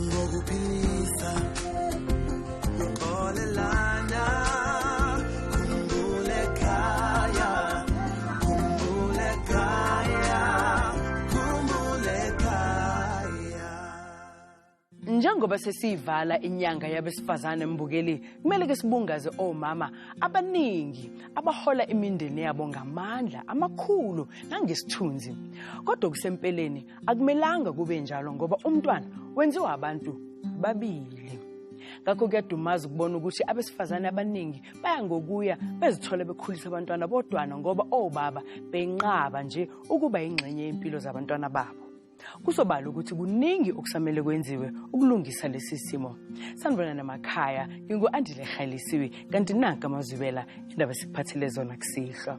ngokuphilisa uxolelana khumbule khaya khumbule khaya khumbule khaya njengoba sesiyivala inyanga yabesifazane mbukeli kumele ke sibungaze omama abaningi abahola imindeni yabo ngamandla amakhulu nangesithunzi kodwa kusempeleni akumelanga kube njalo ngoba umntwana wenziwa abantu babili ngakho kuyadumaza ukubona ukuthi abesifazane abaningi baya ngokuya bezithola bekhulisa abantwana bodwana ngoba obaba benqaba nje ukuba yingxenye yempilo zabantwana babo kusobala ukuthi kuningi okusamele kwenziwe ukulungisa lesi simo sanibona namakhaya ngingu-andile rhalisiwe kanti nanka amazwibela indaba esikuphathele zona kusihlwa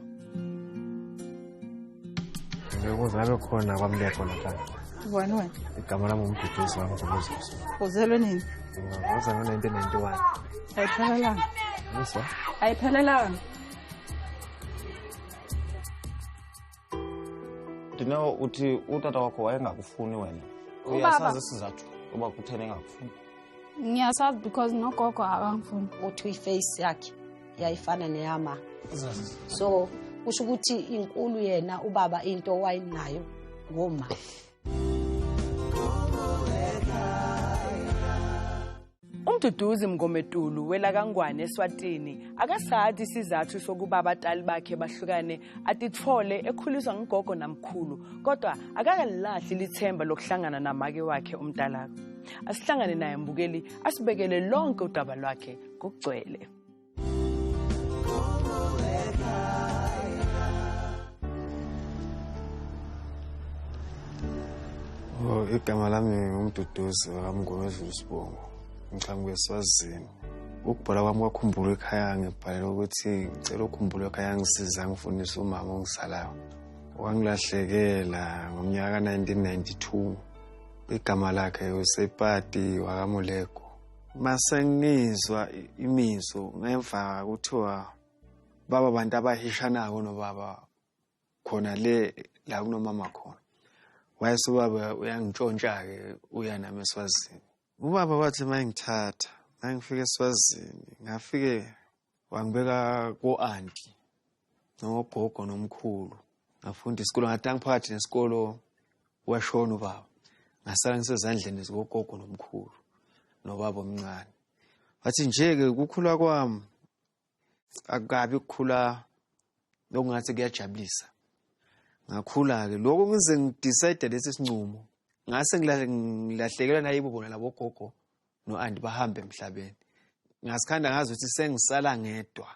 ukuze abe khona kwamlekho nahlala ubani wena igama lami umduduzi wami ngomuzisi uzelwe nini ngoze ngo-nineteen ninety one ayiphelelanga yiswa ayiphelelanga ndineo uthi utata wakho wayengakufuni wena uyasazi isizathu uba kutheni engakufuni ngiyasazi because nogogo akangifuni uthi iface yakhe yayifana neyama so kusho ukuthi inkulu yena ubaba into owayinayo ngoma Umduduzi Mngomedulu welakangwane eSwatini akasathi isizathu sokuba abatali bakhe bahlukane atithole ekhuliswa ngugogo namkhulu kodwa akakalilahli lithemba lokuhlangana namake wakhe umtalaka asihlangane naye mbukeli asibekele lonke udaba lwakhe ngokugcwele Oh, igama lami ngumduduzi wakamngoma edlula isibongo ngixhamuke eswazini ukubhola kwami kwakhumbula ekhaya ngibhalela ukuthi ngicela ukhumbula ekhaya ngisiza ngifundise umama ongisalayo wangilahlekela ngomnyaka ka-1992 igama lakhe usepati wakamulego masengizwa imizo ngemva kuthiwa baba bantu abahishanako nobaba khona le la kunomama khona wayese ubaba uyangitshontsha-ke uya nami eswazini ubaba wathi uma engithatha uma ngifike eswazini ngafike wangibeka ko-anti nogogo nomkhulu ngafunda isikolo ngathi angiphakathi nesikolo washona ubaba ngasala ngisezandleni zikogogo nomkhulu nobaba omncane wathi nje-ke ukukhula kwami akukabi ukukhula lokungathi kuyajabulisa ngakhula-ke lokho ngize ngidicide lesi sincumo ngase ngilahlekelwa nayibo bona labogogo no-anti bahambe emhlabeni ngasikhanda ngazi ukuthi sengisala ngedwa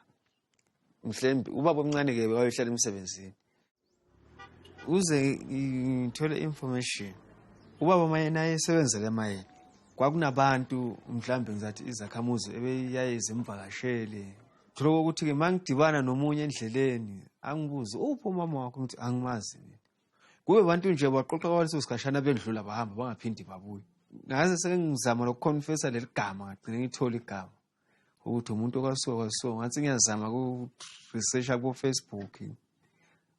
mhlembi ubaba omncane-ke wayohlala emsebenzini uze ngithole information ubaba mayena ayesebenzela emayeni kwakunabantu mhlawumbe ngizathi izakhamuzi ebeyaye zimvakashele thola kokuthi-ke uma ngidibana nomunye endleleni angibuze uphi umama wakho ngithi angimazi mina kube abantu nje baqoqa kwaleso sikhashana bendlula bahamba bangaphindi babuye ngaze sengizama lokuconfessa leli gama ngagcine ngithole igama ukuthi umuntu okasuka kwasuka ngathi ngiyazama ku-researcha kofacebook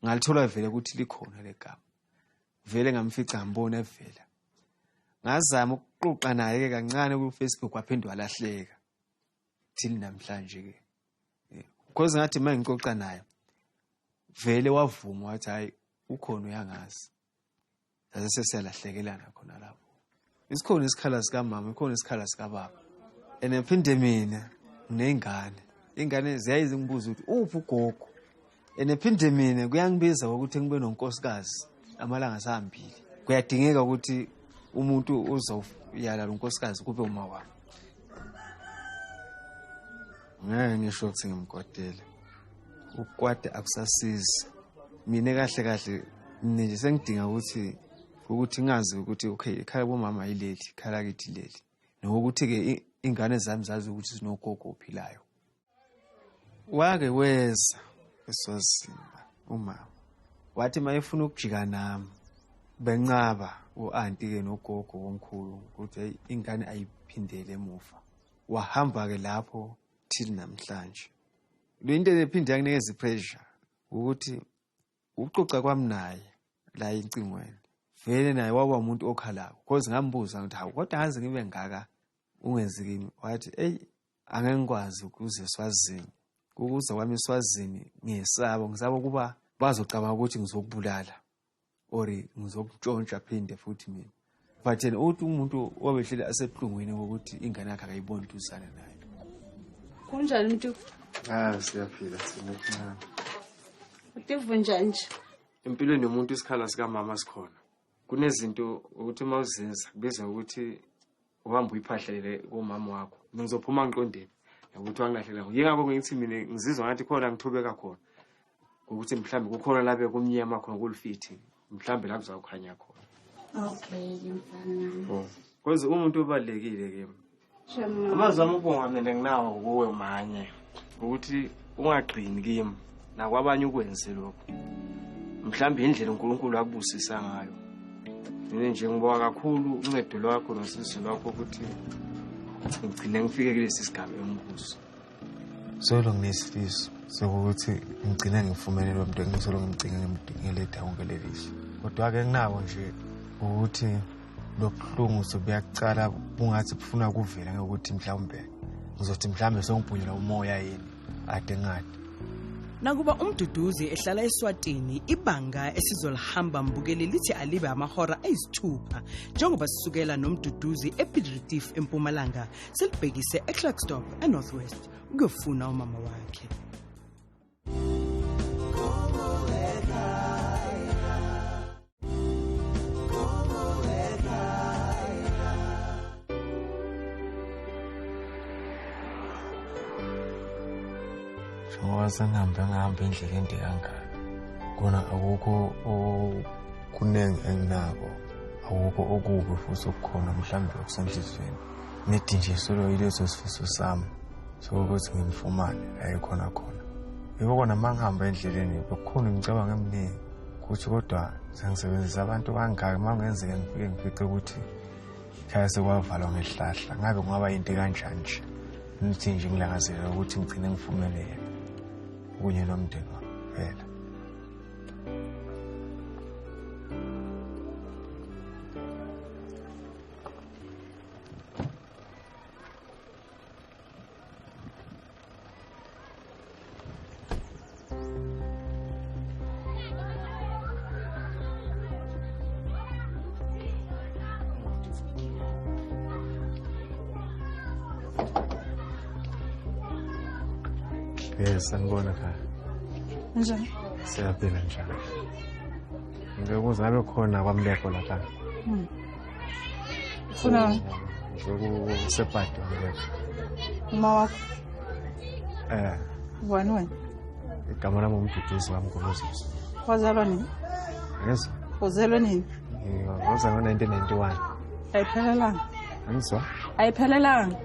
ngalithola vele ukuthi likhona le gama vele ngamfica ngambona evela ngazama ukuxoxa naye-ke kancane kufacebook waphinde walahleka thili namhlanje-ke because ngathi uma ngixoxa naye vele wavuma wathi hhayi ukhona uyangazi saze sesiyalahlekelana khona lapho isikhona isikhala sikamama ikhona isikhala sikababa and phinde mina nginey'ngane iy'ngane ziyaye zingibuze ukuthi uphi ugogo and ephinde mina kuyangibiza ukuthi ngibe nonkosikazi amalanga asahambile kuyadingeka ukuthi umuntu uzoyala lo nkosikazi kube uma wami ngeke ngisho ukuthi ngimkwadele ukwade akusasizi mina kahle kahle mina nje sengidinga ukuthi ukuthi ngazi ukuthi okay ikhala bomama yileli ikhala kithi leli nokuthi-ke ingane zami zazi ukuthi zinogogo ophilayo wake weza eswazimba umama wathi mayefuna ukujika nami benqaba u-anti ke nogogo womkhulu ukuthi ingane ayiphindele emuva wahamba ke lapho till namhlanje le into ephinde yakunikeza ipressure ukuthi ukuxoxa kwami naye la incingweni vele naye waba umuntu okhalako cause ngambuza ukuthi hawu kodwa ngaze ngibe ngaka ungenzikini wathi eyi angeke ngikwazi ukuze swazini ukuza kwami eswazini ngesabo ngisaba ukuba bazocabanga ukuthi ngizokubulala or ngizokutshontsha phinde futhi mina but yena uthi umuntu obehleli asebuhlungwini wokuthi ingane yakhe akayiboni duzane naye kunjani mntu ah siyaphila sinokuncane utiva njani nje empilweni yomuntu isikhala sikamama sikhona kunezinto ukuthi uma uzenza kubizwa ukuthi uhambe uyiphahlele komama wakho mina ngizophuma ngiqondeni ukuthi wangilahlele ngo yingakho ngithi mina ngizizwa ngathi khona ngithobeka khona ngokuthi mhlawumbe kukhona labe kumnyama khona kulifithi mhlawumbe la kuzawukhanya khona okay oh. cause umuntu obalulekile kimi amazwi ami ubonga mina nginawo kuwe manye ukuthi ungagcini kimi nakwabanye ukwenze lokho mhlawumbe indlela unkulunkulu akubusisa ngayo mina nje ngiboka kakhulu uncedo lwakho nosizi lwakho ukuthi ngigcine ngifike kulesi sigaba engibuso solo nginesifiso sokuthi ngigcine ngifumene lo mntu engisolo ngimcinga ngimdingele dawonke lelihle kodwa-ke nginako nje ukuthi lobuhlungu sobuyacala bungathi bufuna kuvela ngokuthi mhlawumbe ngizothi mhlawumbe songibhunyelwa umoya yini ade ngade nakuba umduduzi ehlala eswatini ibanga esizolihamba mbukeli lithi alibe amahora ayisithupha njengoba sisukela nomduduzi epidritif empumalanga silibhekise eclarkstop enorthwest ukuyofuna umama wakhe njengoba sengihambe ngihamba indlela ende kangaka kona akukho okuningi enginako akukho okubi futhi okukhona mhlawumbe okusenhliziyweni nedi nje solo yileso sifiso sami sokuthi ngimfumane ayekhona khona yiko kona uma ngihamba endleleni bekukhona imicabango eminingi ukuthi kodwa sengisebenzisa abantu kangaki uma kungenzeka ngifike ngifice ukuthi khaya sekwavalwa ngehlahla ngabe kungaba yinto kanjani nje nithi nje ngilangazelela ukuthi ngigcine ngifumele yena kunye nomndeni wami phela Yes, sanibona khaya. Njani? Siyaphila njalo. Ngeke uzabe khona kwamleko lapha. Hmm. funa ngizokusebhadwa uma wakho eh ubani wena igama lami umduduzi wami ngolozisi wazalwa nini yes uzelwe nini ngozalwa 1991 ayiphelelanga ngizwa ayiphelelanga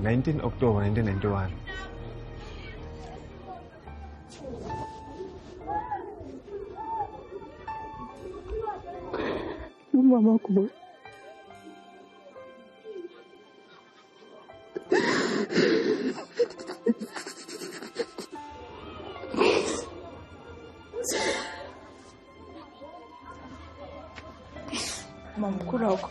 19 october 1991 Umama wakho boy. Mama, mkulu wakho.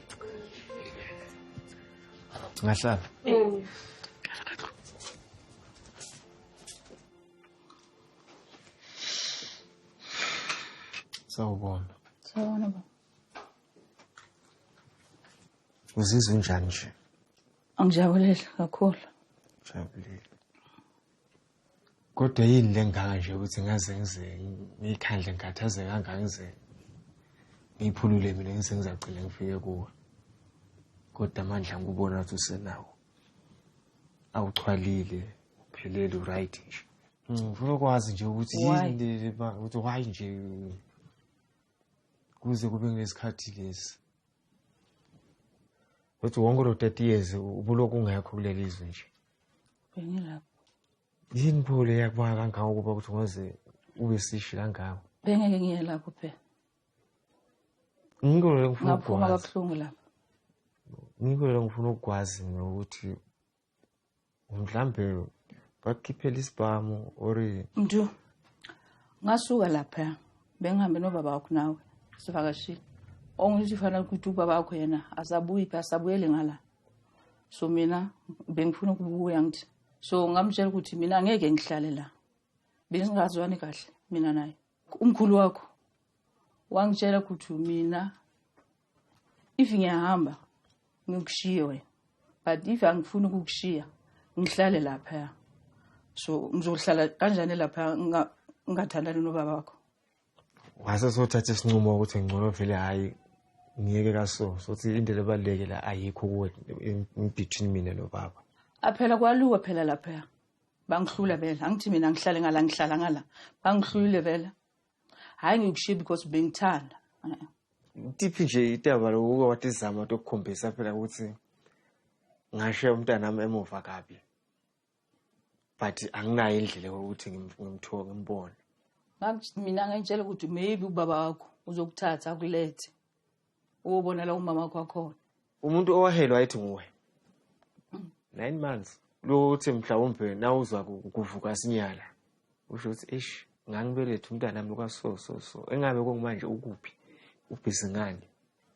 ngahlala mm. sawubona sawubona baba uzizwa unjani nje angijabulile kakhulu jabulile kodwa yini lengaka nje ukuthi ngaze ngize ngikhandle ngikhathaze kangaka ngize ngiphulule mina ngize ngizagcina ngifike kuwe kodwa amandla ngikubona ukuthi usenawo awuchwalile uphelele uright nje ngifuna ukwazi nje ukuthi yini ukuthi why nje kuze kube ngesikhathi lesi ukuthi wonke lo 30 years ubuloku ungekho kuleli zwe nje bengilapho yini pho le yakubona kangaka ukuba ukuthi ungaze ube sishi kangaka bengeke ngiye lapho phela ngikho le ngifuna ngaphuma ukugwaza kabuhlungu lapho ngikho le ngifuna ukugwazi mina ukuthi mhlambe bakukhiphela isibhamu or mdu ngasuka lapha bengihambe nobaba wakho nawe sivakashile ongisho fanele ukuthi ubaba wakho yena asabuyi phi asabuyele ngala so mina bengifuna ukubuya ngithi so ngamtshela ukuthi mina angeke ngihlale la bengingazwani kahle mina naye umkhulu wakho wangitshela ukuthi mina if ngiyahamba ngikushiye wena but if angifuni ukukushiya ngihlale laphaya so ngizohlala kanjani laphaya ngingathandani nobaba wakho wase sothatha isinqumo ukuthi ngcono vele hhayi ngiyeke kaso sothi into lebaluleke la ayikho kuwe between mina nobaba aphela kwaluwe phela lapha bangihlula vele angithi mina ngihlale ngala ngihlala ngala bangihlulile vele hhayi ngikushiye because bengithanda tiphi nje itaba lokuke watizama tokukhombisa phela ukuthi ngashiya umntanami emuva kabi but anginayo indlela yokuthi ngimthiwa ngimbone mina ngayitshela ukuthi maybe ubaba wakho uzokuthatha akulethe uyobona la umama wakho akhona umuntu owahelwa ayithi nguwe mm. nine months lothi mhlawumbe nawuzwa kuvuka sinyala usho ukuthi eish ngangibelethe umntana wami kwaso so so engabe kungumanje ukuphi ubhizi ngani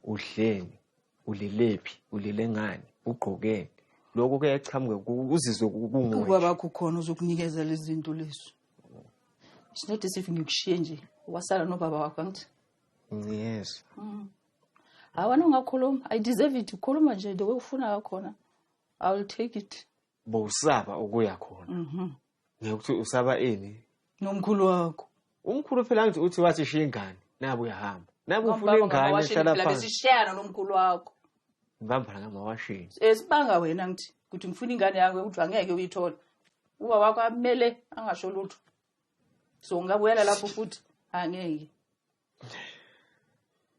udleni ulilephi ulile ngani ugqokeni lokho kuyachamuka uzizwe kunguye ubaba kukhona uzokunikezela izinto lezo it's not as if ngikushiye nje wasala nobaba wakho angithi yes mm. hawana ungakhuluma i deserve it ukhuluma nje the way ufuna ngakhona i will take it bowusaba ukuya khona mhm. ngekuthi usaba ini nomkhulu wakho umkhulu phela ngithi uthi wathi shiya ingane nabe uyahamba nabe ufuna ingane hlala phansi sishayana nomkhulu wakho ngibambana ngamawashini esibanga eh, wena ngithi ukuthi ngifuna ingane yakho ukuthi angeke uyithola uba wakho amele angasho lutho so ngingabuyela lapho futhi angeke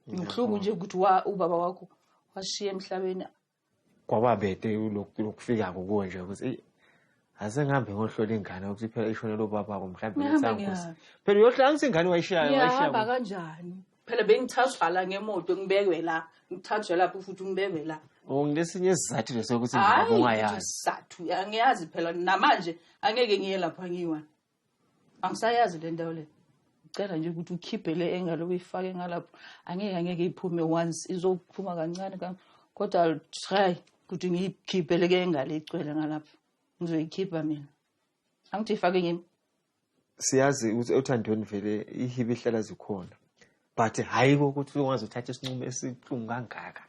ngihluku nje ukuthi wa ubaba wakho washiya emhlabeni kwaba bede lokufika kukuwe nje ukuthi eyi aze ngihambe ngohlola ingane ukuthi phela ishonela ubabako mhlawumbe ngisanguzi phela uyohlala ngithi ingane wayishayo wayishayahamba kanjani phela bengithathwa la ngemoto ngibekwe la ngithathwe lapho futhi ngibekwe la nginesinye isizathu leso ukuthi ngiyazi isizathu angiyazi phela namanje angeke ngiye lapho angiyiwani angisayazi le ndawo le ngicela nje ukuthi ukhiphe le engalo uyifake ngalapho angeke angeke iphume once izophuma kancane kodwa i'll try ukuthi ngiyikhiphe le ke engalo igcwele ngalapho ngizoyikhipha mina angithi ifake kimi siyazi ukuthi othandweni vele ihibe ihlala zikhona but hhayi kokuthi ungaze uthathe isinqumo esihlungu kangaka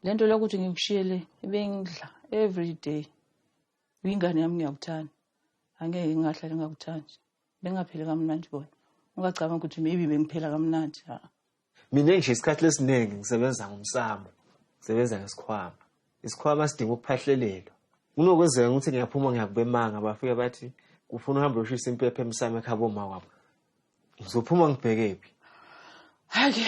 le nto lokuthi ngikushiye le ibengidla every day Uyingane yami ngiyakuthanda. Angeke ngingahlale ngakuthandi. Bengapheli kamnandi bona. Ungacabanga ukuthi maybe bengiphela kamnandi. Ha. Mina nje isikhathi lesiningi ngisebenza ngomsamo. Ngisebenza ngesikhwama. Isikhwama sidinga ukuphahlelelwa. Kunokwenzeka ukuthi ngiyaphuma ngiyakubemanga bafike bathi ufuna uhambe uyoshisa impepha emsamo ekhabo ma wabo. Ngizophuma ngibheke phi? Hayi ke.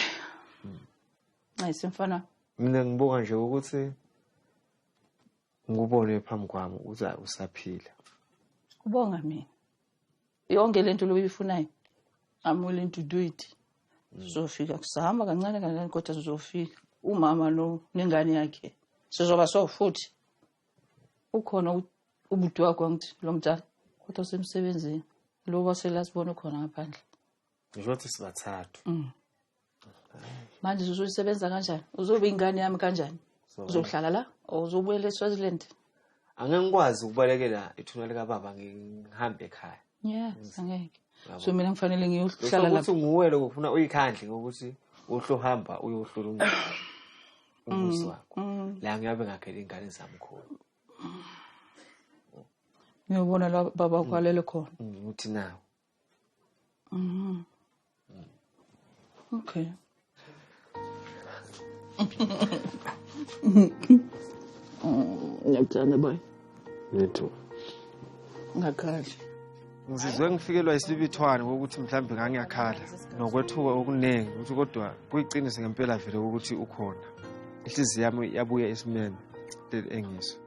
Hayi semfana. Mina ngibuka nje ukuthi ngikubone phambi kwami ukuthi hayi usaphila kubonga mina yonke le nto loyifunayo i'm willing to do it sizofika kusahamba kancane kancane kodwa sizofika umama lo nengane yakhe sizoba so futhi ukhona ubuti wakho angithi lo mdala kodwa usemsebenzini lo waselasibona ukhona ngaphandle ngisho ukuthi sibathathu mm. manje uzosebenza kanjani uzobe ingane yami kanjani uzohlala la or uzobuyela eswaziland angeke ngikwazi ukubalekela ithuna likababa ngihambe ekhaya yeah angeke so mina ngifanele ngiyohlala lapho ukuthi nguwe lokho ufuna uyikhandle ngokuthi uhlohamba uyohlula umuntu umuzi mm, wakho mm. la ngiyabe ngakhele ingane zami khona ngiyobona la baba kwalele khona mm, uthi nawo Mm. Okay. Ngiyakuthanda boy. Me too. Ngakhali. Ngizizwe ngifikelwa isibithwane ukuthi mhlawumbe ngangiyakhala nokwethuka okuningi ukuthi kodwa kuyiqiniso ngempela vele ukuthi ukhona. Inhliziyo yami yabuya esimeme leli engiso.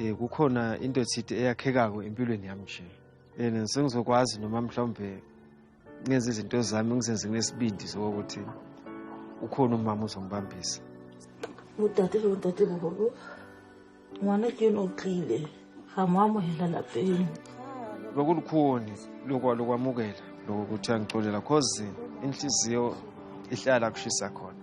um kukhona into ethide eyakhekako empilweni yami nje and sengizokwazi noma mhlawumbe ngenze izinto zami ngizenze nginesibindi sokokuthi ukhona umama uzongibambisa udade lo dade bobolo ngwana ke yona otlile ga mo amogela lapeng lokulukhuni lokwamukela lokuthi angicolela cause inhliziyo ihlala kushisa khona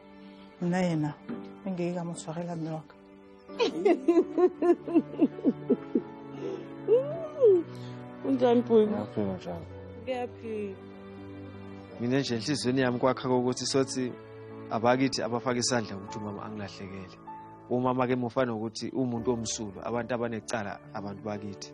nna ena nke ke ka mo tshwarela mme wa ka unjani bhuti Ngiyaphila njalo. ngiyaphila mina nje enhliziyweni yami kwakha kokuthi sothi abakithi abafake isandla ukuthi umama angilahlekele umama ke mufana ukuthi umuntu omsulwa abantu abanecala abantu bakithi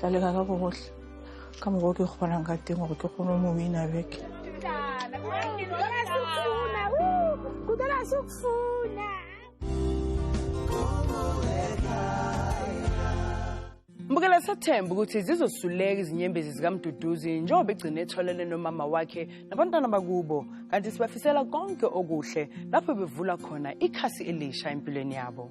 ka leka ka bogotlhe ka moko ke kgonang ka teng gore ke kgone o mo wina beke mbukela sethemba ukuthi zizosuleka izinyembezi zikamduduzi njengoba egcine etholele nomama wakhe nabantwana bakubo kanti sibafisela konke okuhle lapho bevula khona ikhasi elisha empilweni yabo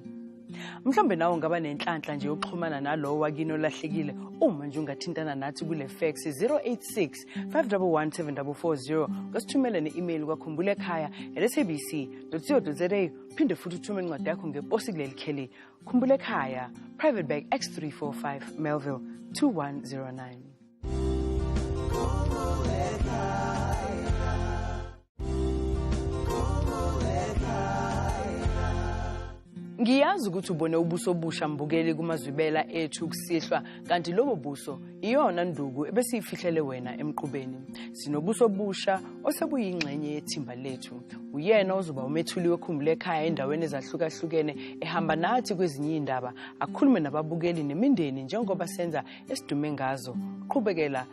mhlawumbe nawe ungaba nenhlanhla nje yokuxhumana nalowo wakini olahlekile uma nje ungathintana nathi kule fax 086 511 ngasithumele ne-email kwakhumbula ekhaya at sabc co za phinde futhi uthume incwadi yakho ngeposi kuleli kheli khumbula ekhaya private bag x345 melville 2109 ngiyazi ukuthi ubone ubuso obusha mbukeli kumazwibela ethu kusihlwa kanti lobo buso iyona nduku ebesiyifihlele wena emqubeni sinobuso obusha osebuyingxenye yethimba lethu uyena ozoba umethuli wekhumbule ekhaya endaweni ezahlukahlukene ehamba nathi kwezinye iy'ndaba akhulume nababukeli nemindeni njengoba senza esidume ngazo qhubekela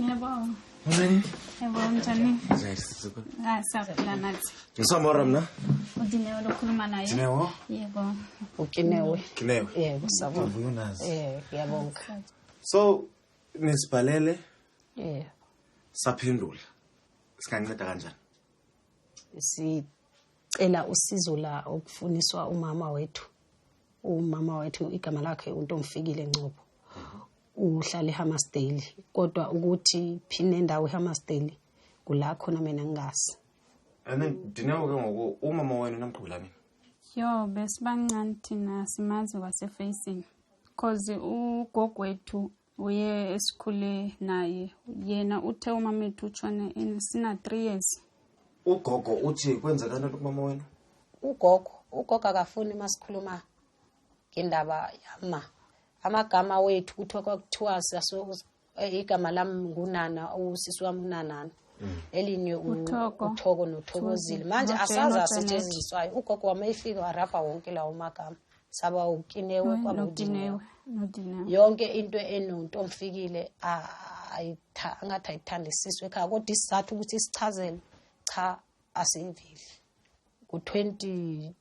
Ngiyabonga. Mncane. Yabona njani? Ah, siyaphila nathi. Ngisamora mina. Udinewe lokhuluma naye. Dinewo? Yebo. Ukinewe. Kinewe. Yebo, sabona. Ngivuka unazi. Eh, ngiyabonga. So nisibhalele Eh, saphendula. Singanceda kanjani? sicela usizo la okufuniswa umama wethu. Umama wethu igama lakhe uNtomfikile Ngcobo. uhlala ehammersdale kodwa ukuthi phini nendawo ehammersdale kula khona mina ngingazi and then dineo ke ngoku umama wenu namqhubela nini yo besibancane thina simazi kwasefacing cause ugogwethu uye esikhule naye yena uthe umama ethu utshone sina three years ugogo uthi kwenzekani kumama wenu ugogo ugogo akafuni uma sikhuluma ngendaba yama amagama wethu kuthiwa kwakuthiwa eh, igama lami ngunana usisi wami unanana mm. elinye uthoko nothokozile manje asazi asetshenziswayo ugogo wami efike warabha wonke lawo magama saba ukinewe kwabudinewe yonke into enontomfikile angathi ayithandisiswe ekhaya kodwa isizathu ukuthi sichazele cha asiyiveli ngo-twenty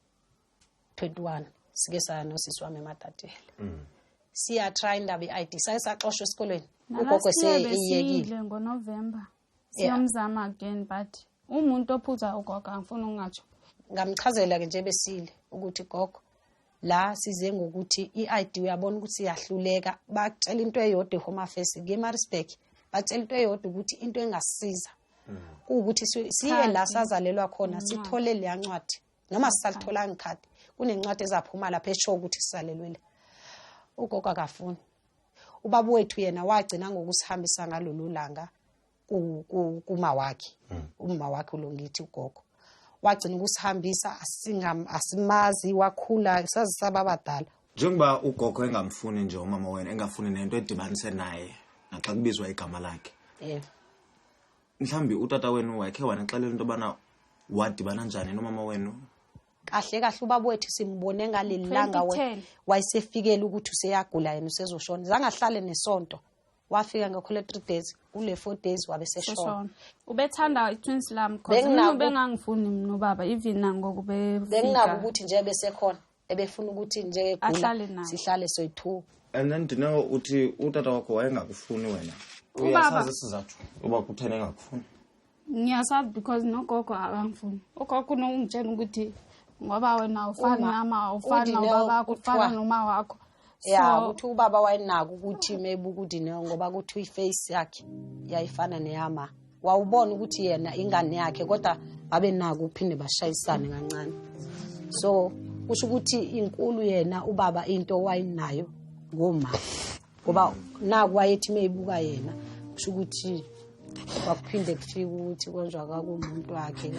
21 sike saya nosisi wami emadadela mm. siya try indaba i-id saye saxoshwa esikolweni ugogo seyiyekile ngonovember siyomzama again but umuntu ophuza ugogo angifuni ungatsho ngamchazela-ke nje besile ukuthi gogo la size ngokuthi i-id uyabona ukuthi iyahluleka batshela into eyodwa ehome affairs ngemarisburg batshela into eyodwa ukuthi into engasiza mm. kuwukuthi siye la sazalelwa khona sithole leya ncwadi noma sisalitholanga ikhadi kunencwadi ezaphuma lapha esho ukuthi sisalelwile ugogo akafuni ubaba wethu yena wagcina ngokusihambisa ngalolu langa kuma wakhe hmm. uma wakhe ulongithi ugogo wagcina ukusihambisa asimazi wakhula sazisaba abadala njengoba ugogo engamfuni nje umama wena engafuni nento edibanise naye naxa kubizwa igama lakhe mhlawumbi utata wenu wakhe wanixelela into yobana wadibana njani nomama wenu kahle kahle ubaba wethu simbone ngaleli langa wayesefikele ukuthi useyagula yena usezoshona zangahlale nesonto wafika ngekhole three days kule four days wabe seshona ubethanda i-twins lam bcause bengangifuni mna ubaba even nangoku bengingako ukuthi nje besekhona ebefuna ukuthi njengegula sihlale soyi-two and then ndineo uthi utata wakho wayengakufuni wena uyasazi isizathu uba kutheni engakufuni ngiyasazi because nogogo akangifuni ugogo unokungitshela ukuthi ngoba wena ufani nama ufani nobabakho ufana noma wakho ya So- ukuthi ubaba wayenako ukuthi maybe ukuthi ne ngoba kuthi iface yakhe yayifana neyama wawubona ukuthi yena ingane yakhe kodwa babenako ukuphinde bashayisane kancane so kusho ukuthi inkulu yena ubaba into wayenayo ngoma ngoba naku wayethi meyibuka yena kusho ukuthi kwakuphinde kufika ukuthi konjwa kakumuntu wakhe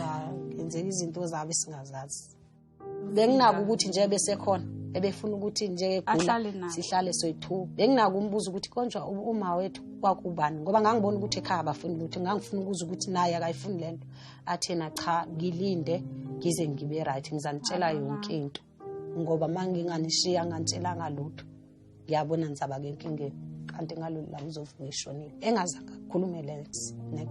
kwenzeka izinto zabe singazazi benginako ukuthi nje besekhona ebefuna ukuthi njengegula sihlale soyi-two benginako umbuza ukuthi konjwa uma wethu kwakubani ngoba ngangibona ukuthi ekhaya abafuni lutho ngangifuna ukuza ukuthi naye akayifuni le nto athena cha ngilinde ngize ngibe right ngizanitshela yonke into ngoba uma nginganishiya nganitshelanga lutho ngiyabona ngisaba ke enkingeni kanti ngalolu langa uzovuka eshonile engazange akhulume lex nex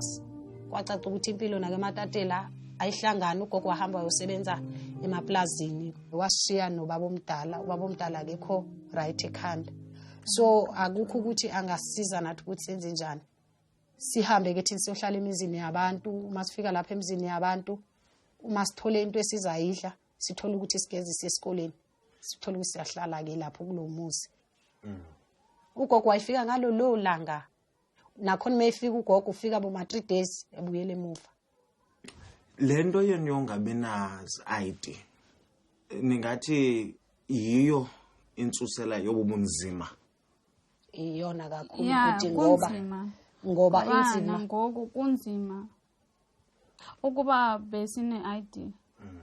kwacaca ukuthi impilo nake ematatela ayihlangani ugogo wahamba wayosebenza emaplazini washiya nobaba omdala ubaba omdala akekho right ekhanda so akukho ukuthi angasiza nathi ukuthi senze njani sihambe ke thina siyohlala emizini yabantu uma sifika lapha emizini yabantu uma sithole into esizayidla sithole ukuthi sigezise esikoleni sithola ukuthi siyahlala-ke lapho kulo muzi mm. ugogo wayefika ngalo lowo langa nakhona uma efika ugogo ufika boma-three days ebuyela emuva le nto yenu yongabi na-id ningathi yiyo insusela yobubunzima iyona kakhulu ukuthi ngoba ngoba inzima ngoku kunzima ukuba besine-id mm.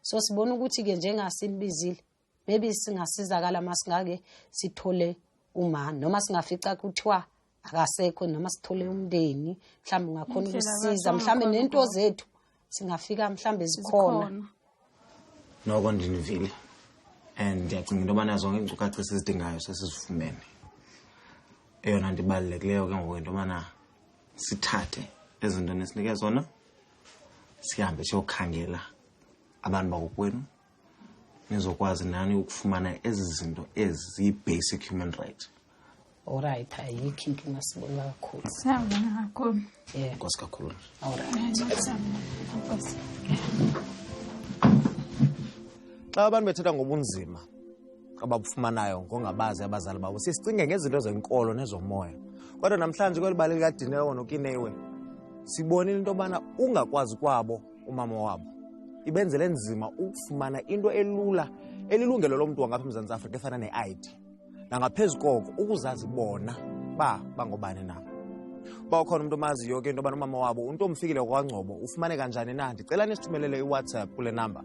so sibona ukuthi-ke njengasinibizile maybe singasizakala uma singake sithole uma noma singafica kuthiwa akasekho noma sithole umndeni mhlawumbe ungakhona ukusiza mhlawumbe nento zethu singafika mhlawumbe zikhona noko ndinivile and ndiyacinga into yobana zonke iinkcukacha esizidingayo sesizifumene eyona nto ibalulekileyo ke ngoku into yobana sithathe ezi nto nesinike zona sihambe siyokhangela abantu bakokwenu nizokwazi nani ukufumana ezi zinto ezi ziyi-basic human right olright ayikho inkinga sibonga kakhulu siyabonga kakhulu yeah. nkosi kakhulu olright xa abantu bethetha ngobunzima abakufumanayo ngongabazi abazali babo sisicinge ngezinto zenkolo nezomoya kodwa namhlanje kweli bali likadineko nokinewe sibonile into yobana ungakwazi kwabo umama wabo ibenzele nzima ukufumana into elula elilungelo lo mntu wangapha emzantsi afrika efana ne-id nangaphezu koko ukuzazi bona ba bangobani na uba ukhona umntu omaziyo ke into yobana umama wabo umntu omfikile kwangcobo ufumane kanjani na ndicela nisithumelele iwhatsapp kule namba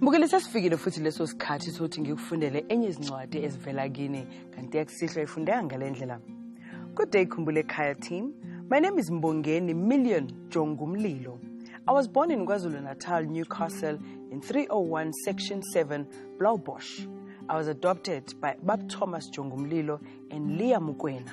Mbukeli sesifikile futhi leso sikhathi sokuthi ngikufundele enye izincwadi ezivela kini kanti yakusihlwa ifundeka ngale ndlela Good day Khumbule Ekhaya team My name is Mbongeni Million Jongumlilo I was born in KwaZulu-Natal, Newcastle in 301 Section 7, Blaubosch. I was adopted by Bab Thomas Jongumlilo and Leah Mukwena.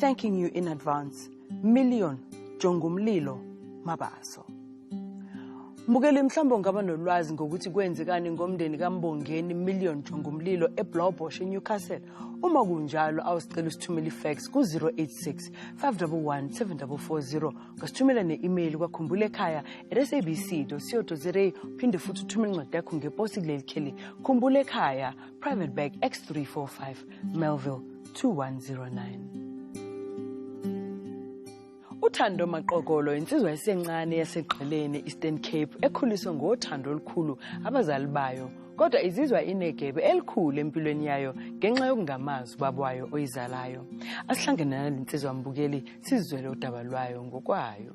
Thanking you in advance, Million Jongumlilo Mabaso. Mbukeli mhlawumbe ungaba nolwazi ngokuthi kwenzekani ngomndeni kaMbongeni Million Jongumlilo eBlaubosch eNewcastle. Uma kunjalo awusicela usithumele ifax ku-086 511 7440 ngasithumela ne-email kwakhumbule ekhaya at sabc co za phinde futhi uthumele incwadi yakho ngeposi kuleli kheli khumbule ekhaya Private Bag X345 Melville 2109. UThando Maqokolo insizwa esencane yasegqeleni Eastern Cape ekhuliswe ngothando olukhulu abazali bayo kodwa izizwa inegebe elikhulu empilweni yayo ngenxa yokungamazi ubaba wayo oyizalayo. Asihlangene nalensizwa mbukeli sizwele udaba lwayo ngokwayo.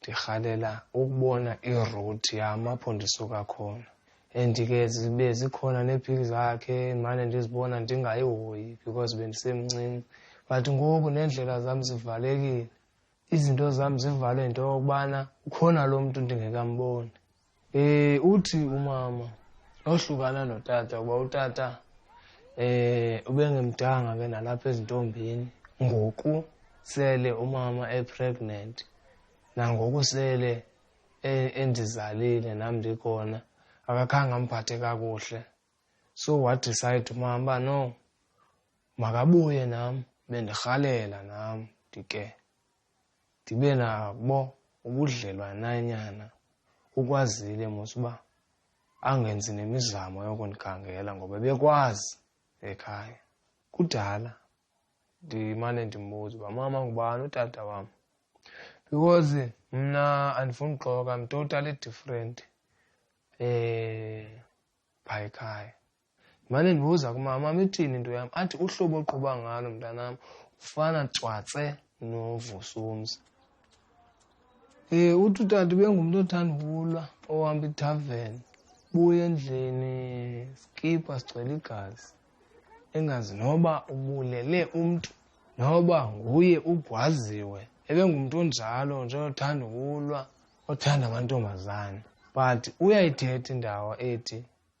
Ngihalela ukubona i-route yami apho ndisuka khona and ke zibe zikhona neepic zakhe mane ndizibona ndingayihoyi because bendisemncinci but ngoku neendlela zam zivalekile izinto zam zivalwe into yokubana ukhona lo mntu ndingekamboni Eh uthi umama ohlukana notata kuba utata eh ubengemdanga ke nalapha ezintombini ngoku sele umama epregnant nangoku sele e, endizalile nam ndikhona akakhange amphathe kakuhle so wadecide umama uba no makabuye nam bendirhalela nam ndike ndibe nabo ubudlelwananyana ukwazile mos uba angenzi nemizamo yokundikangela ngoba bekwazi ekhaya kudala ndimane ndimbuza uba mama ngubani utata wam because mna andifuni uxoka i'm totally different um eh, by ekhaya Ngimane ngibuza kumama, mama ithini into yami? Athi uhlobo oqhuba ngalo mntanami ufana cwatse noVusumzi. Eh uthi utata bengumuntu othanda ukulwa ohamba itavern buya endlini skipha sigcwele igazi engazi noba ubulele umuntu noba nguye ugwaziwe ebengumuntu onjalo nje othanda ukulwa othanda amantombazane but uyayithetha indawo ethi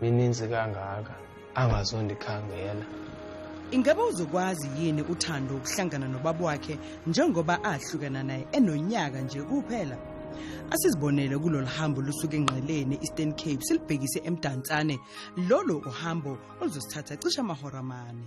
mininzi kangaka angazondikhangela ingaba uzokwazi yini uthando ukuhlangana nobaba wakhe njengoba ahlukana naye enonyaka nje kuphela asizibonele kulolu hambo lusuke engqeleni eastern cape silibhekise emdantsane lolo uhambo oluzosithatha cishe amahora amane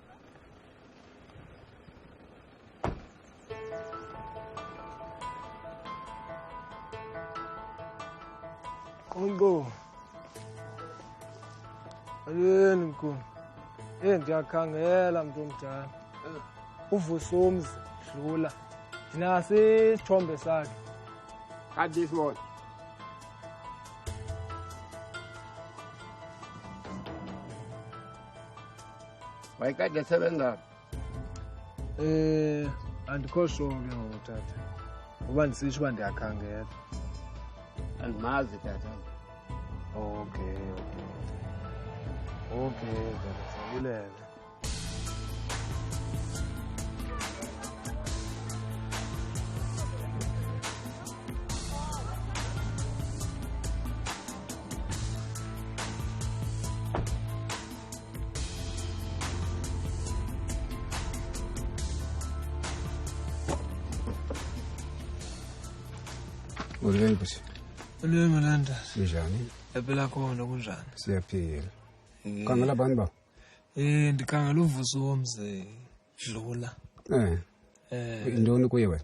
Kongo. Ayeni mkhulu. Eh ngiyakhangela mntu omdala. Uvusa umzi dlula. Nasi isithombe sakhe. Kanti isibona. wayekade esebenza eh andikho sure ke ngoku tata uba ndisitsho uba ndiyakhangela andimazi tata okay okay okay tata sabulela Ulwele bhuti. Ulwele Malanda. Kunjani? Yaphela khona kunjani? Siyaphila. Eh. Khangela abantu ba. Eh ndikhangela uvuso womze dlula. Eh. Eh. Indoni kuye wena?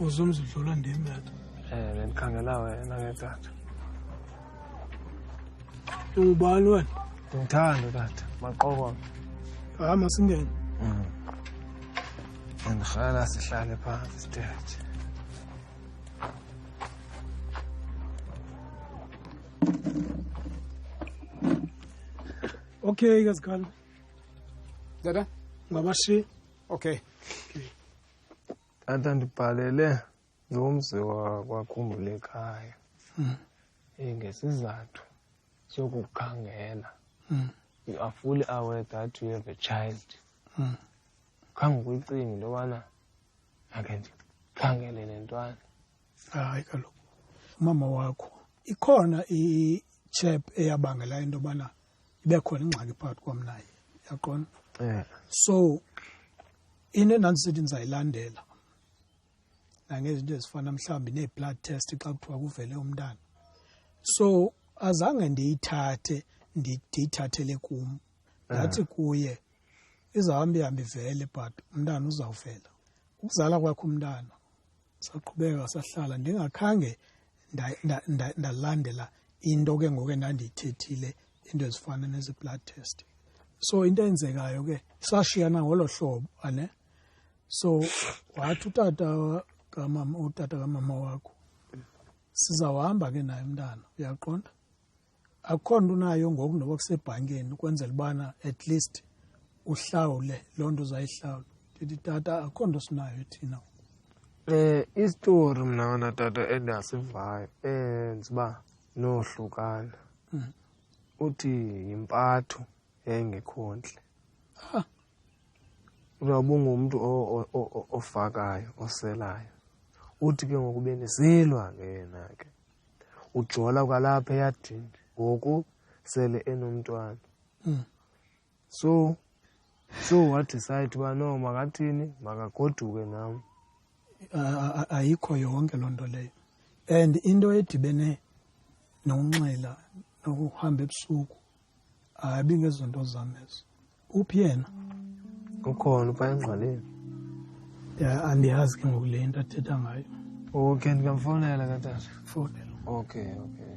uzumzidlula ndim tata um bendikhangela wena ke tata ungubani wena ndithanda tata maqokoa hayi masingene mm. ndikhala sihlale phantsi sithethe okay kazikhalo tata ngabashiya okay tata ndibhalele nomzi wakwakhumbulo ekhaya hmm. eh, ngesizathu sokukhangela hmm. you are fully aware that you have a child hmm. khange ukuyicingi into yobana ake ndikhangele nentwana hayi kaloku umama wakho ikhona i-chap eyabangela into yobana ibe khona ingxaki phakathi kwam naye yaqona yeah. so into endandisithi ndizayilandela nangezinto ezifana mhlawumbi nee-blood test xa kuthiwa kuvele umntana so azange ndiyithathe ndiyithathele kum ndathi eh. kuye izawuhambe ihambe ivele but umntana uzawuvela ukuzala kwakho umntana saqhubeka sahlala ndingakhange ndalandela into ke ngoku endandiyithethile into ezifana nezi-blood test so into eyenzekayo ke sashiyana ngolo hlobo ane so wathi utata kamama utata kamama wakho sizawuhamba ke naye mntana uyaqonda akukhona nto unayo ngoku noba kusebhankini ukwenzela ubana at least uhlawule loo nto uzayihlawula ndithi tata akukho nto sinayo thina um isitori mna wona tata endiyasivayo enza uba nohlukana hmm. uthi yimpatho yayingekhontle ah. uyawubungumntu ofakayo oselayo uthi ke ngoku benizilwa ke yena ke ujola kwalapha eyadini ngoku sele enomntwana hmm. so so wadecide uba no makathini makagoduke nam ayikho yonke loo nto leyo and into edibene nokunxila nokuhamba ebusuku hayi bingezonto zami ezo uphi yena ukhona uba engqwaleni ya andiyazi ke ngoku le nto athetha ngayo okay ndingamfonela katata fonela okay okay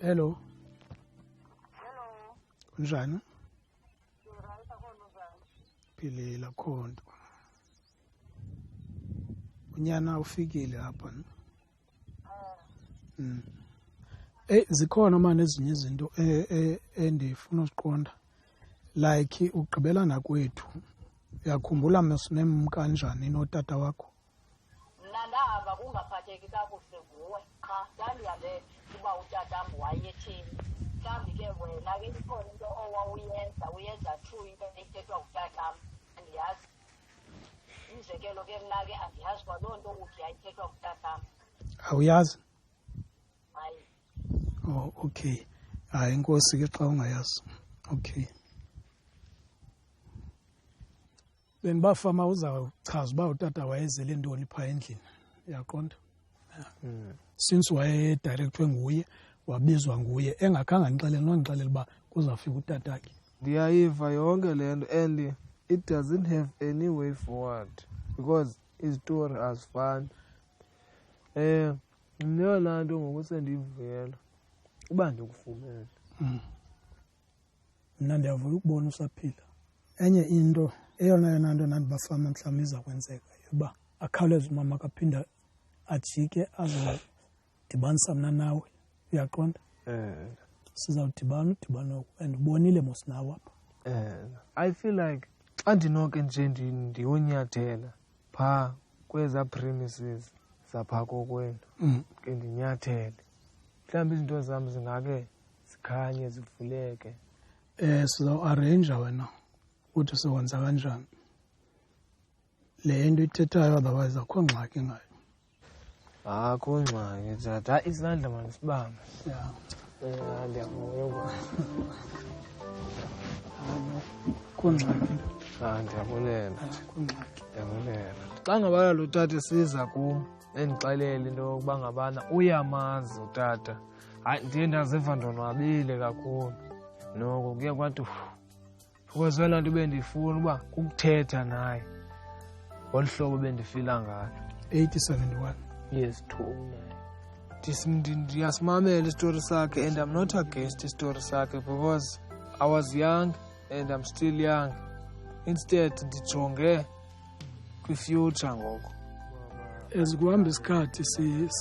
hello hello unjani philile khonto unyana ufikile apha no? mm. Hey eh, zikhona manje ezinye izinto eh, eh, endifuna uziqonda like ugqibelana kwethu uyakhumbula masinemkanjani notata wakho mna ndahamba kungaphatheki kakuhle nguwe qha ndandihambe uba utatam wayetheni mhlawumbi ke wena ke ikhona into owawuyenza uyenza true into ethethwa ngutatam andiyazi umzekelo ke mna ke andiyazi kwaloo nto uthi yayithethwa ngutatam awuyazi hayi o oh, okay hayi inkosi ke xa ungayazi okay bengibafa ma uzawuchaza uba utata wayezele ntoni phaa endlini yaqonda hmm. since wayedirectwe nguye wabizwa nguye engakhange andixelele nondixelele uba kuzawufika utatakhe ndiyayiva yonke le nto and it doesn't have any way forward because izitori azifani um eh, mneyona nto ngoku sendiyivuyela uba ndikufumele hmm. mna ndiyavuya ukubona usaphila enye into eyona yona nto nandibafama mhlawumbi izakwenzeka yoba akhawuleze umama kaphinda ajike azodibanisa mna nawe uyaqonda eh. sizawudibana udibana oku and ubonile mos nawe apha eh. i feel like xa ndinoke nje ndiyonyathela phaa kweza premises zaphaa kokwenu mm. ke ndinyathele mhlawumbi izinto zam zingake zikhanye zivuleke eh sizo arrange wena ukuthi siwenza kanjani le nto ithethayo otherwise akho ngxaki ngayo akho ngxaki thatha isandla manje sibamba ya eh ndiyavuya kungxaki ah ndiyabulela kungxaki ndiyabulela xa ngabana lo tata siza kum endixelele into yokuba ngabana uyamazi utata hayi ndiye ndaziva ndonwabile kakhulu noko kuye kwathi because wena nto bendiyifuna uba kukuthetha naye ngolu hlobo bendifila ngalo 871 yes two ndiyasimamela isitori sakhe and i'm not against isitori sakhe because i was young and i'm still young instead ndijonge kwi-future ngoko as kuhamba isikhathi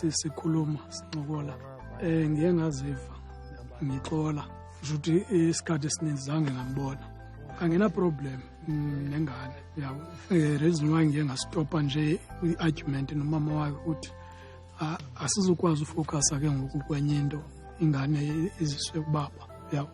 sikhuluma sincokola um ngiye ngaziva ngixola kusho ukuthi isikhathi esininzi zange ngambona angenaproblem mm, nengane yabo um reason why ngiye ngastopha nje i-argument nomama wayo ukuthi asizukwazi ufocus ke ngoku kwenye into ingane iziswe kubaba yabo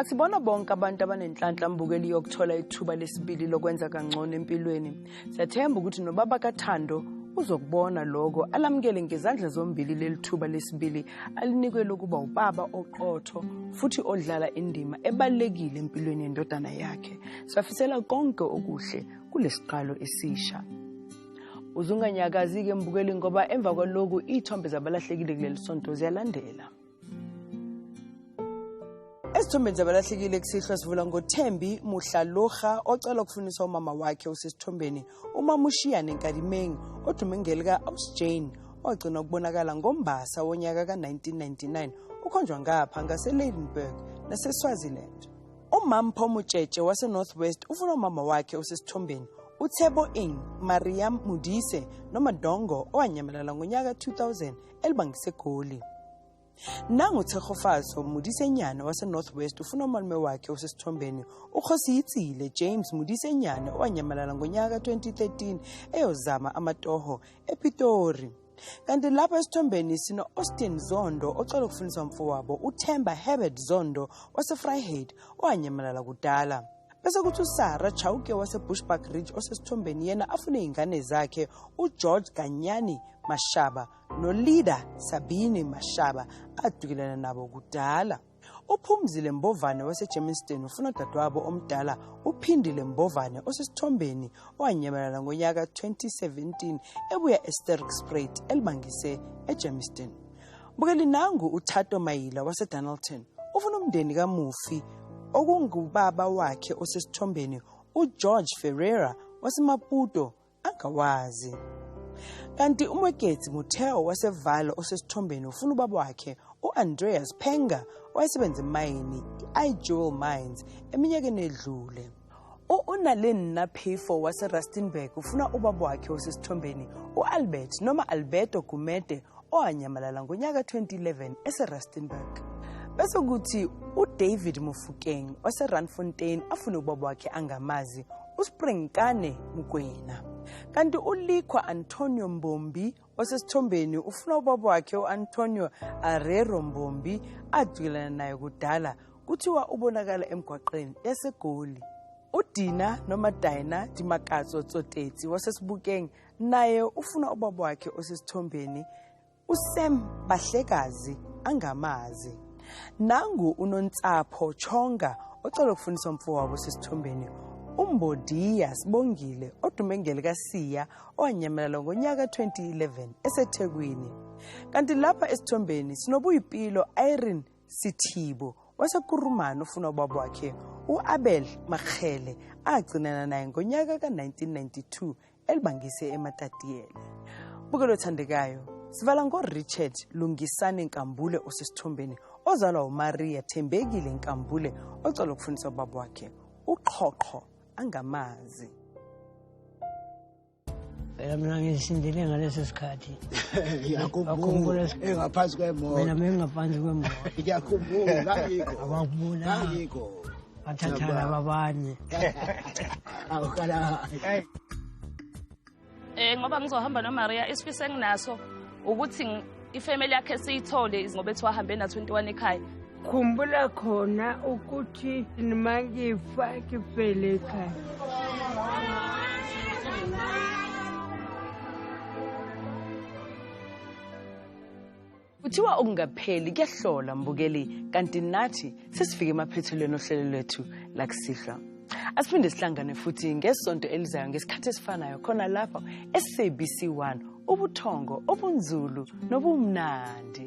Asibona bonke abantu abanenhlanhla mbukeli yokuthola ithuba lesibili lokwenza kangcono empilweni. Siyathemba ukuthi nobaba kaThando uzokubona lokho alamukele ngezandla zombili leli thuba lesibili alinikwe lokuba ubaba oqotho futhi odlala indima ebalulekile empilweni yendodana yakhe. Safisela konke okuhle kulesiqalo esisha. uzunganyakazi-ke mbukeli ngoba emva kwaloku iy'thombe zabalahlekile kuleli sonto ziyalandela esithombeni zabalahlekile kusihlwa sivula ngothembi muhlaloha ocela ukufunisa umama wakhe usesithombeni umama ushiya nenkalimeng odume ngelika ausjane ogcina ukubonakala ngombasa wonyaka ka-1999 ukhonjwa ngapha ngaseleidenburg naseswaziland umampho mutshetshe wasenorth west ufuna umama wakhe osesithombeni uthebo ing mariam mudise noma dongo owanyamalala ngonyaka 2000 elibangisegoli nanguthehofazo mudisenyane wasenorth west ufuna umalume wakhe osesithombeni ukhosiyitsile james mudisenyane owanyamalala ngonyaka ka-2013 eyozama amatoho epitori kanti lapha esithombeni sino-austin zondo ocela ukufundiswa mfowabo uthemba herbert zondo wasefryhade owanyamalala kudala bese kuthi usara chauke wasebushback ridge osesithombeni yena afune iy'ngane zakhe ugeorge ganyani mashaba nolida sabini mashaba adukelana nabo kudala uphumzile mbovane wasegermiston ufuna udadewabo omdala uphindile mbovane osesithombeni owanyamalala ngonyaka 2017 ebuya esterk sprait elibangise egermiston bukeli nangu uthato mayila wasedonalton ufuna umndeni kamufi okungubaba wakhe osesithombeni ugeorge ferreira wasemaputo angawazi kanti umweketsi mutheo wasevalo osesithombeni ufuna ubaba wakhe u-andreas penga owayesebenza emayini i-ijewel mines eminyakeni edlule u-unalin naphifo waserustenburg ufuna ubaba wakhe osesithombeni u-albert noma alberto gumede owanyamalala ngonyaka 2011 eseRustenburg. Bese kuthi uDavid Mofokeng oseRandfontein afune ubaba wakhe angamazi uSpringkane Mokwena. Kanti uLikhwa Antonio Mbombi osesithombeni ufuna ubaba wakhe uAntonio Arero Mbombi adwilana naye kudala kuthiwa ubonakala emgwaqeni yaseGoli. UDina noma Dina Dimakatso Tsotetsi wasesibukeng naye ufuna ubaba wakhe osesithombeni usam bahlekazi angamazi nangu unontsapho chonga ocela ukufundisa umfowabo osesithombeni umbodiya sibongile odume ngelikasiya owanyamalala ngonyaka 2011 esethekwini kanti lapha esithombeni sinobuyipilo irene sithibo wasekurumani ufuna ubaba wakhe u-abel marhele agcinana naye ngonyaka ka-1992 elibangise eMatatiele. Bukelo thandekayo, sivala ngoRichard Lungisane Nkambule osesithombeni ozalwa uMaria Thembekile Nkambule ocela ukufundisa ubaba wakhe uqhoqho angamazi. phela mina ngisindile ngaleso sikhathi ngiyakhumbula engaphansi kwemoto mina bengingaphansi kwemoto ngiyakhumbula ngangikho ngangikho bathathana babanye awukala eh ngoba ngizohamba noMaria isifiso enginaso ukuthi ifamily yakhe siyithole ngoba ethi wahambe na 21 ekhaya khumbula khona ukuthi nima ngifa ngifele ekhaya kuthiwa okungapheli kuyahlola mbukeli kanti nathi sesifike emaphethelweni ohlelo lwethu lakusihlwa asiphinde sihlangane futhi ngesonto elizayo ngesikhathi esifanayo khona lapho sabc 1 ubuthongo obunzulu nobumnandi